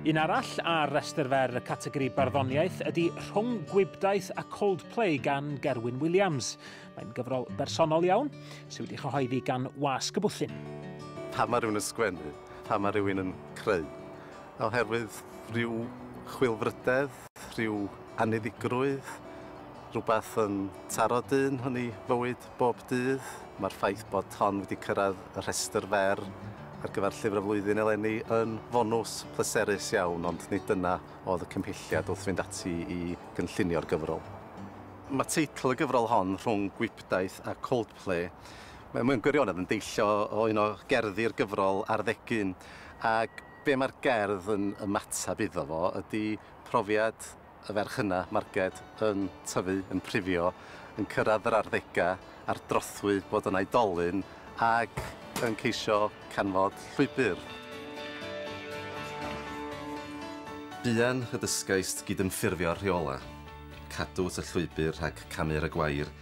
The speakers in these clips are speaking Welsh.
Un arall ar restr fer y categori barddoniaeth ydy Rhwng Gwibdaith a Coldplay gan Gerwyn Williams. Mae'n gyfrol bersonol iawn, sydd wedi chyhoeddi gan Wasg y Bwthyn. Pam mae rhywun yn sgwennu? Pam mae rhywun yn creu? Oherwydd rhyw chwilfrydedd, rhyw anniddigrwydd, rhywbeth yn taro dyn yn ei fywyd. Bob dydd, mae'r ffaith bod hon wedi cyrraedd y rhestr fer ar gyfer Llyfr y Flwyddyn eleni yn fonws pleserus iawn, ond nid dyna oedd y cymhelliad wrth fynd ati i gynllunio'r gyfrol. Mae teitl y gyfrol hon, Rhwng Gwibdaith a Coldplay, mewn gwirionedd yn deillio o un o gerddi'r gyfrol ar ddegyn, ac be mae'r gerdd yn ymateb iddo fo ydy profiad y ferch yna, marged, yn tyfu, yn prifio, yn cyrraedd yr arddegau a'r drothwy fod yn oedolyn ac yn ceisio canfod llwybr. Buan y dysgaist gydymffurfio'r rheolau, cadw at y llwybr rhag camu ar y gwair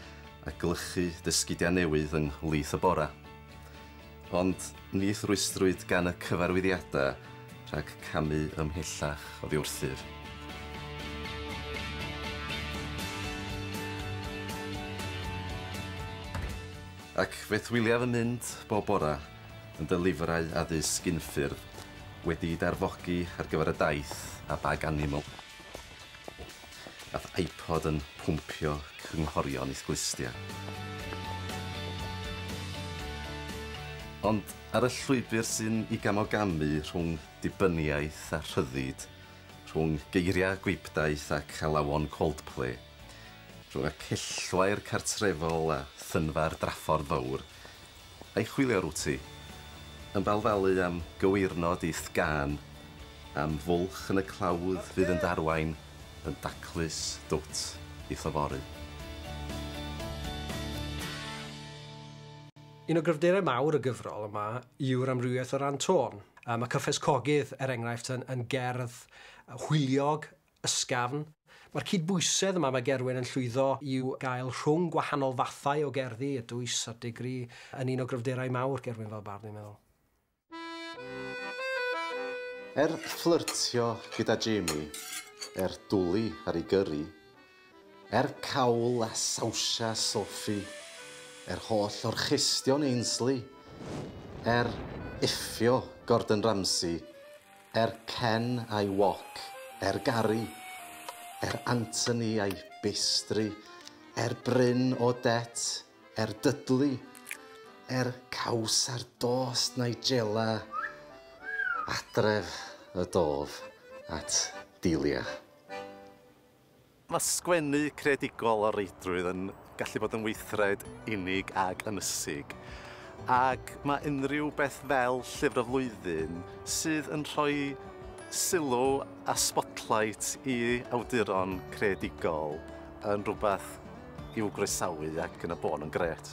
a glychu dy sgidiau newydd yng nghlith y bora. Ond ni rhwystrwyd gan y cyfarwyddiadau rhag camu ymhellach oddi wrthyf. Ac fe thwiliaf yn mynd bob bore yn dy lyfrau addysg unffurf, wedi'u darfogi ar gyfer y daith a bag animal. Gall iPod yn pwmpio cynghorion i'th glustia. Ond ar y llwybr sy'n i gamogamu rhwng dibyniaeth a rhyddid, rhwng geiriau gwibdaith ac alawon Coldplay, rhwng y cellwair cartrefol a thynfa'r draffordd fawr, I chwilio rw ti. Yn balfalu am gyweirnod i'th gân, am fwlch yn y clawdd fydd yn ddarwain yn daclus dwt i'th yfory. Un o gryfderau mawr y gyfrol yma yw'r amrywiaeth o ran tôn. Mae Cyffes Cogydd, er enghraifft, yn gerdd hwyliog, Ysgafn. Mae'r cydbwysedd yma mae Gerwyn yn llwyddo i'w gael rhwng gwahanol fathau o gerddi, y dwys a'r digri, yn un o gryfderau mawr Gerwyn fel bardd, dwi'n meddwl. Er fflyrtio gyda Jamie, er dwli ar ei gyrru, Er cawl a sawsia Sophie, er holl orchestion Ainsley, er iffio Gordon Ramsay, er Ken a'i wok, er Gary, er Anthony a'i bastry, er Bryn o det, er Dudley, er caws ar dost Nigella, adref y dof at Delia. Mae sgwennu creadigol o reidrwydd yn gallu bod yn weithred unig ac ynysig, ac mae unrhyw beth fel Llyfr y Flwyddyn, sydd yn rhoi sylw a sbotlight i awduron creadigol, yn rhywbeth i'w groesawu ac yn y bôn yn grêt.